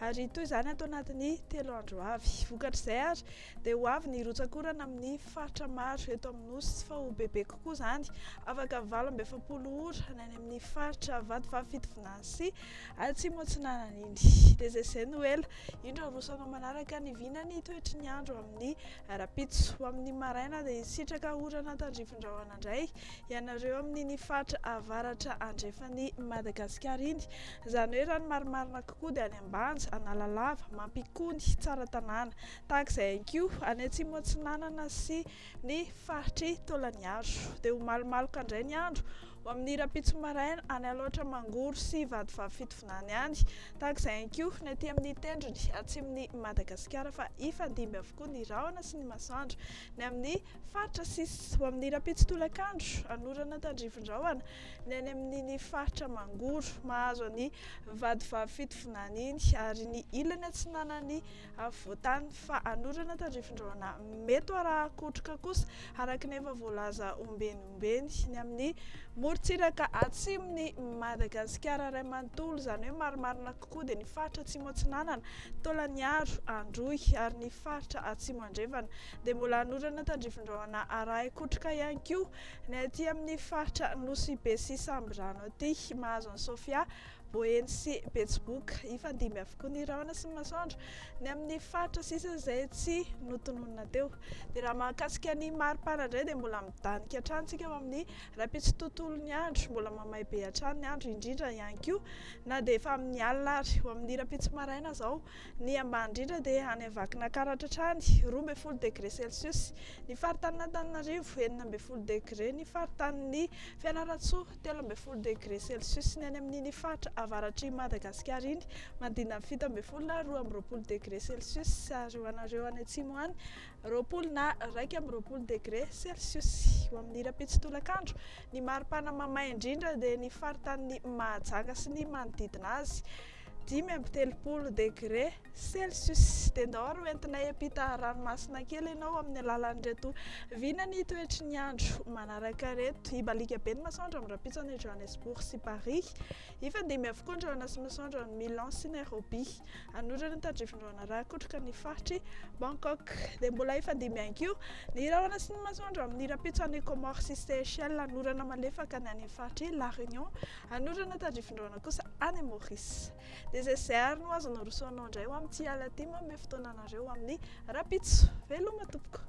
Ary toy izany ato anatin'ny telo andro avy. Vokatr'izay ary dia ho avy ny rotsak'orana amin'ny faritra maro eto amin'ny Nosy fa ho bebe kokoa izany, afaka valo amby efapolo ora any amin'ny faritra Vatovavy Fitovinany sy Atsimo Atsinanana iny. Dia izay izay no ela, indro aroso anao manaraka ny vinan'ny toetry ny andro amin'ny rahampitso. Ho amin'ny maraina dia hisitraka orana tandrifindrahona indray ianareo amin'iny faritra avaratra andrefan'i Madagasikara iny. Izany hoe raha ny marimarina kokoa dia any Ambanja, Analalava, Mampikony, Tsaratanàna. Tahaka izay ihany koa any Atsimo Atsinanana sy ny faritr'i Taolagnaro. Dia ho malomaloka indray ny andro ho amin'ny rahampitso maraina any Alaotra Mangoro sy Vatovavy-Fitovinany any. Tahaka izay ihany koa ny aty amin'ny tendrony atsimon'i Madagasikara fa hifandimby avokoa ny rahona sy ny masoandro ny amin'ny faritra sisa. Ho amin'ny rahampitso tolakandro, hanorana tandrifin'ny rahona. ny any amin'iny faritra Mangoro mahazo an'i vadivavy fitovinany iny ary ny ilany atsinanan'ny afovoantany fa hanorana tandrifindraona mety arahan-kotroka kosa araka ny efa voalaza ombeny ombeny ny amin'ny morontsiraka atsimon'i Madagasikara iray manontolo izany hoe marimarina kokoa dia ny faritra atsimo atsinanana Tolaniaro Androy ary ny faritra atsimo andrefana dia mbola hanorana tandrifindraona arahan-kotroka ihany koa Ny aty amin'ny faritra Nosy-Be sy Sambirano aty, mahazo an'i Sofia, Boeny sy Betsiboka hifandimby avokoa ny rahona sy ny masoandro. Ny amin'ny faritra sisa izay tsy notononina teo. Dia raha mahakasika ny maripana indray dia mbola midanika hatrany isika ao amin'ny rahampitso tontolon'ny andro. Mbola mamay be hatrany ny andro indrindra ihany koa na dia efa amin'ny alina ary. Ho amin'ny rahampitso maraina izao Ny ambany indrindra dia any Vakinankaratra hatrany, roa ambin'ny folo degre celsius, ny faritanin'Antananarivo, enina ambin'ny folo degre, ny faritanin'i Fianarantsoa, telo ambin'ny folo degre celsius, ny any amin'iny faritra avaratr'i Madagasikara iny, manodidina ny fito ambin'ny folo na roa amby roapolo degre celsius, ary ho anareo any atsimo any, roapolo na iraika amby roapolo degre celsius. Ho amin'ny rahampitso tolakandro, ny maripana mamay indrindra dia ny faritanin'i Mahajanga sy ny manodidina azy, dimy amby telopolo degre celsius dia ndao ary hoentina hiampita ranomasina kely ianao amin'ny alalan'ireto vina ny toetry ny andro manaraka reto hibaliaka be ny masoandro amin'ny rampitson'i Johannesburg sy Paris hifandimby avokoa ny rahona sy masoandro amin'ny Milan sy Nairobi anorany tadrivindraona rakotroka ny faritry Bangkok dia mbola hifandimby ihany koa ny rahona sy ny masoandro amin'ny rampitson'i Comores sy Seychelles anorana malefaka ny any faritry La Réunion Hanorina tany Rivondraona kosa any Maurice. Dia izay sy izay ary no azo narosoanao indray ho amin'ity alina ity manome fotoana anareo ho amin'ny rahampitso. Veloma tompoko!